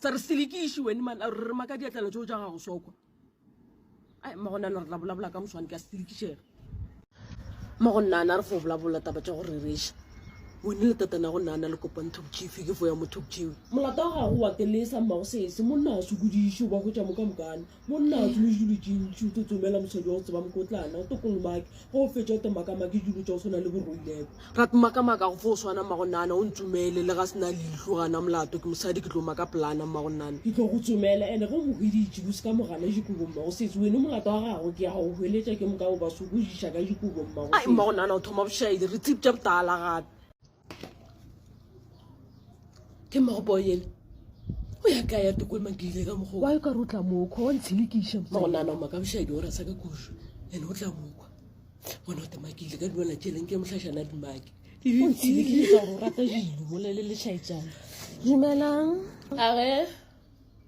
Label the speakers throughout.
Speaker 1: tsa re selekiši wene man a re maka diatlana tšeo tša gago sokwa ai magona le re la bolabola ka moswane ka selekišega mago nnana re fo bolabola taba tša go rereša wene le tatana go nnana le kopang thokchifi ke fo ya mo thokchiwi molata wa gago wa kelesa mmago sese monna a sokodiše o ba hwetša mo ka mokana Monna a tsomile dilo tše ntši o tlo tsomela mosadi wa go tseba mokotlana o tlo kolomake go o fetša o tlo makamake dilo tša go tshwana le boroileko gape makamaka go fo o swana mmagonnana o ntsomele le ga se na leihlo gana molato ke mosadi ke tlo maka polana mmagonnana ke tlo go tsomela ene go mohweditše go se ka mogana dikobo mmago setse wene molato wa gago ke ya go hweletša ke moka o ba sokojiša ka dikobo mmago ai mmagonnana o thoma bošaedi re tsebja botala gape ke mmagopo yele o ya ka ya toko emang ke ile ka mokgwa wa ka rutla mokho wa ntshilikiša magonana ma ka bošadi gore sa ka kušo ene o tla mokwa bona o tema ke ile ka dumela tšeleng ke mohlašana dimake ntshilikiša gore o rata dilo molele le šaetsana dumelang age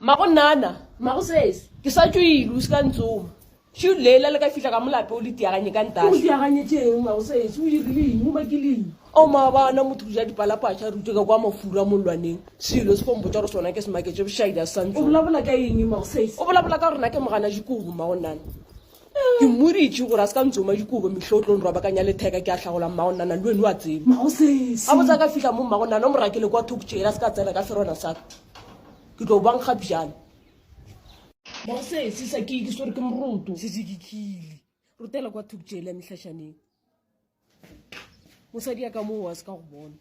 Speaker 1: Mago nnana, mago sesi, ke sa tšo ile, o se ka ntsoma. Šuu Leila le ka fihla ka molape o le tiaganye ka ntaša. Ke go tiaganye tšeng mago sesi, o iriling, o makiling? O maabana motho go ja dipalapatša re utwe ka kwa mafura mollwaneng. Selo se fo mpotša gore sona ke se maketše bošaila se sa ntsoma. O bolabola ka eng mago sesi? O bolabola ka gore na ke mogana Jikobo mago nnana. ke mmoritše gore a se ka ntsoma dikobo mehlo o tlo nrwabakanya letheka ke a hlagola mmago nana le wene wa tseba a botsa ka fihla mo mmago nana o morakele kwa thoko tšeela se ka tsena ka ferona saka ke tlo bangga bjale mosesisa ke ke swere ke moroto sese ke khile rutela kwa thoko tšeela mehlašaneng mosadi ya ka moo wa se ka go bona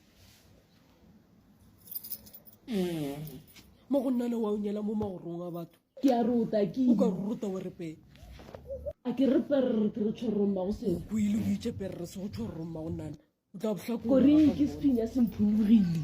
Speaker 1: mo go nna le wa o nyela mo magorong a batho ke a ruta ke o ka ruta o repele a ke re perre ke re tshwarong mago seo o ile o itse perre se go tshwarong mago nana o tla botlhakore ke sephinya se mphulogile